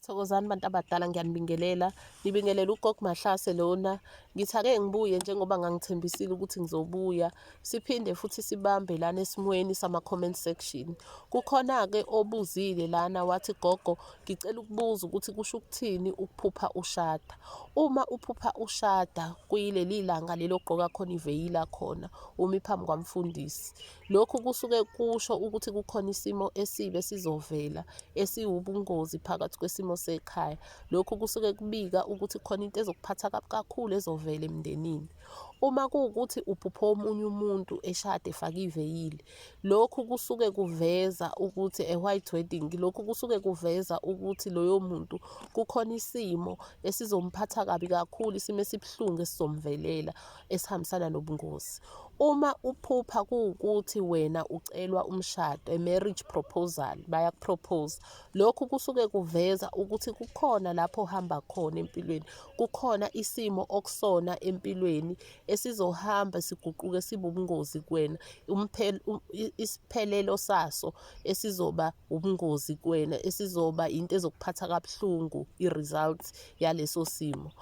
Thokozani bantu abadala ngiyanibingelela. Ngibingelela uGog Mahlase lona. Ngithi ake ngibuye njengoba ngangithembisile ukuthi ngizobuya. Siphinde futhi sibambe lana esimweni sama-comment section. Kukhona-ke obuzile lana wathi gogo ngicela ukubuza ukuthi kusho ukuthini ukuphupha ushada. Uma uphupha ushada kuyileli langa leli ogqoka khona iveyila khona umi phambi kwamfundisi. Lokhu kusuke kusho ukuthi kukhona isimo esibi esizovela esiwubungozi phakathi kwesimo sekhaya. Lokhu kusuke kubika ukuthi khona into ezokuphatha kabi kakhulu ezovela emndenini. Uma kuwukuthi uphuphe omunye umuntu eshade efake iveyili, lokhu kusuke kuveza ukuthi a white wedding, lokhu kusuke kuveza ukuthi loyo muntu kukhona isimo esizomphatha kabi kakhulu, isimo esibuhlungu esizomvelela. esihambisana nobungozi uma uphupha kuwukuthi wena ucelwa umshado a marriage proposal bayakupropose lokhu kusuke kuveza ukuthi kukhona lapho uhamba khona empilweni kukhona isimo okusona empilweni esizohamba siguquke sibubungozi kuwena isiphelelo saso esizoba ubungozi kuwena esizoba into ezokuphatha kabuhlungu i-results yaleso simo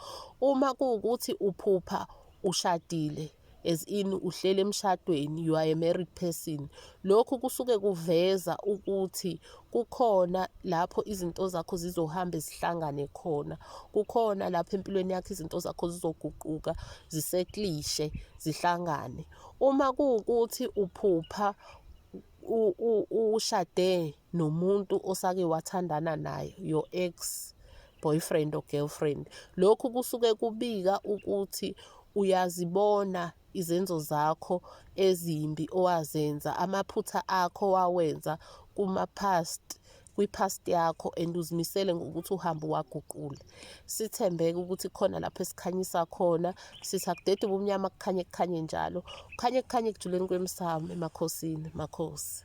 uma kuwukuthi uphupha ushadile as in uhlele emshadweni you are a married person lokhu kusuke kuveza ukuthi kukhona lapho izinto zakho zizohamba zihlangane khona kukhona lapho empilweni yakho izinto zakho zizoguquka ziseklishe zihlangane uma kuwukuthi uphupha ushade nomuntu osake wathandana naye your ex boyfriend or girlfriend lokhu kusuke kubika ukuthi uyazibona izenzo zakho ezimbi owazenza amaphutha akho wawenza kuma past kwi-past yakho and uzimisele ngokuthi uhambe waguqula sithembeke ukuthi khona lapho esikhanyisa khona sithi akudede ubumnyama kukhanye kukhanye njalo kukhanye kukhanye ekujuleni kwemsamo emakhosini makhosi